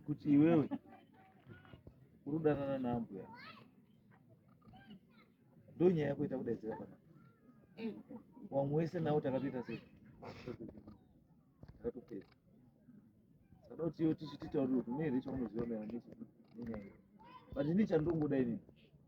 kuti iwewe uri kudanana naambuya ndo nyaya yako ita kudaidzira pana wamwe wese nawo takatoita sei takatopedza saka kuti iwe tichititaurira kuti mune here chaunoziva maererano nechi- nenyaya iyi but ini chandongoda inini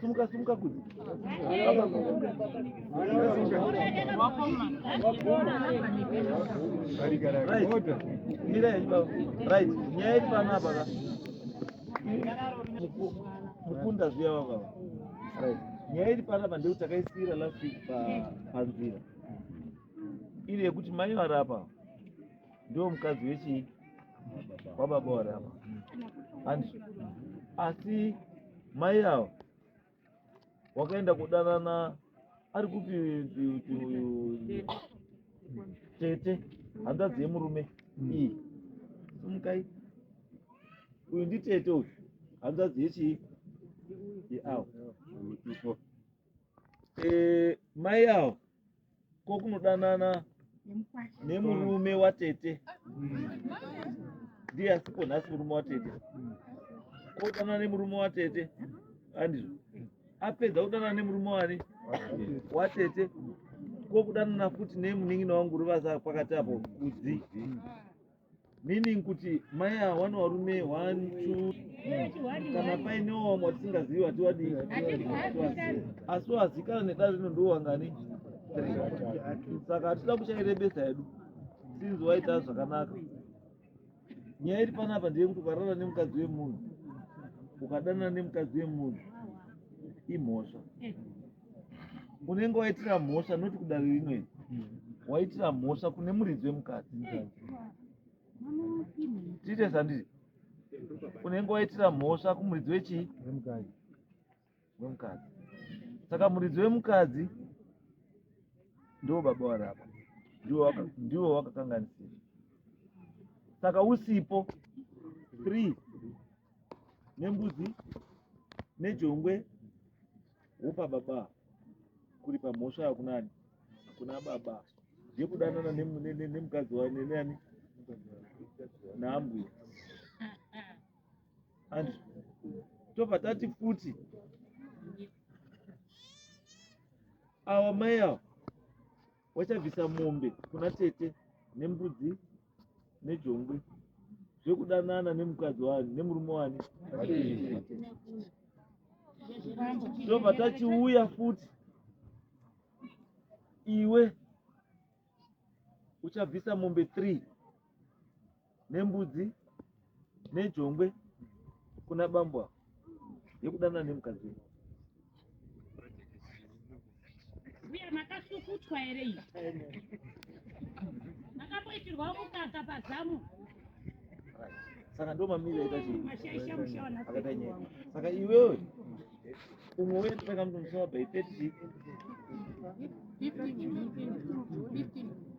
Sumuka sumuka kuti. Right. Nyaya iri pano apa ka. Mukunda zviya baba. Right. Nyaya iri pano apa ndeu takaisira last week pa panzira. Iri yekuti mai varapa. ndiwo mukadzi wechii wababa warama handi asi mai avo wakaenda kudanana ari kupi tete hanzvadzi yemurume iyi sumukai uyu nditete uyu hanzvadzi yechii yeavo e, mai avo ko kunodanana nemurume watete ndiye asipo nhasi murume watete ko kudanana nemurume watete andizvo apedza kudanana nemurume wani watete ko kudanana futi nemunin'ina wangu ruvaza pakati apo kudzi meaning kuti mai ava wane varume one two kana painewo vamwe vatisingazivi vatiwadii asi wazikana nedare rino ndo wangani saka hatida kuchairebesa yedu sinzi waita zvakanaka nyaya iri panapa ndeyekuti ukarara nemukadzi wemunhu ukadanana nemukadzi wemunhu imhosva unenge waitira mhosva noti kudare rino iri waitira mhosva kune muridzi wemukadzi tiite sandiri unenge waitira mhosva kumuridzi wechii wemukadzi saka muridzi wemukadzi ndiwo baba wari apa ndiwo wakakanganisira saka usipo three nembudzi nejongwe Wopa baba kuripa mhosva yakunani kuna baba yekudanana nemukadzi wayo nenani naambuya and tobva tati futi awa mai awa Wachabvisa mombe kuna tete nembudzi nejongwe zvekudanana nemukadzi wani nemurume wani tobva tachiuya futi iwe uchabvisa mombe three nembudzi nejongwe kuna bambo ava yekudanana nemukadzi wenyu uye makasukutwa here iyi makamboitirwa mukaka pazamu saka ndo mamiri aita chii mashaisha mushawana akaita nyaya saka iwewe umwe uye totanga mutomusava by 30 15 15 15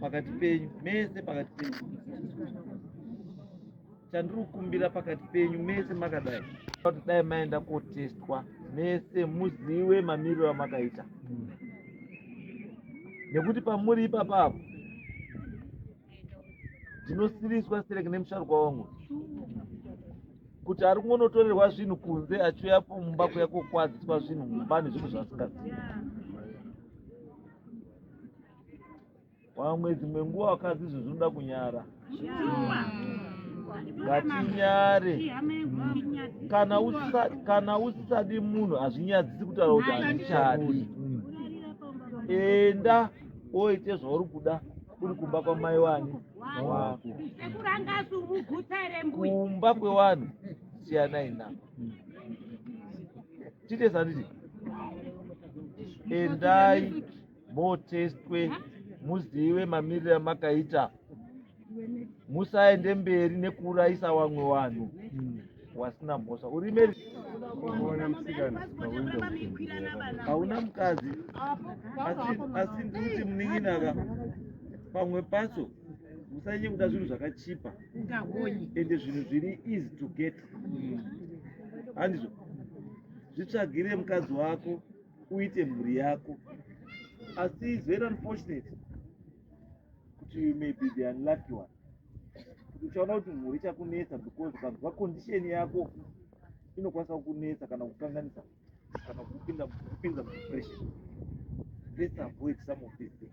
pakati penyu mese pakati penyu chandiri kukumbira pakati penyu mese makadai kuti dai maenda kotestwa mese muzive mamiriro amakaita nekuti pamuri ipapa apo ndinosiriswa sereke nemusharukwa wangu kuti ari kungonotorerwa zvinhu kunze achiuya pumba kuya kokwadziswa zvinhu mumba nezvinhu zvasingazivi vamwe dzimwe nguva vakadzi izvo zvinoda kunyara ngatinyare kana usisadi munhu hazvinyadzisi kutaura kuti handichadi enda oite zvauri kuda uri kumba kwamai wani wako kumba kwevanhu siyanai navo Titesi handiti endai motestwe muzive mamiriro amakaita musaende mberi nekuurayisa vamwe vanhu wasina mhosva urime hauna mukadzi asi ndikuti munin'inaka pamwe pacho musanyekuda zvinhu zvakachipa ende zvinhu zviri easy to get handizvo zvitsvagire mukadzi wako uite mhuri yako asi is very unfortunate kuti you may be the unlucky one kuti uchaona kuti mhuri ichakunetsa because ukanzwa condition yako inokwanisa kukunetsa kana kukanganisa kana kupinda kupinza mudepression let's avoid some of these things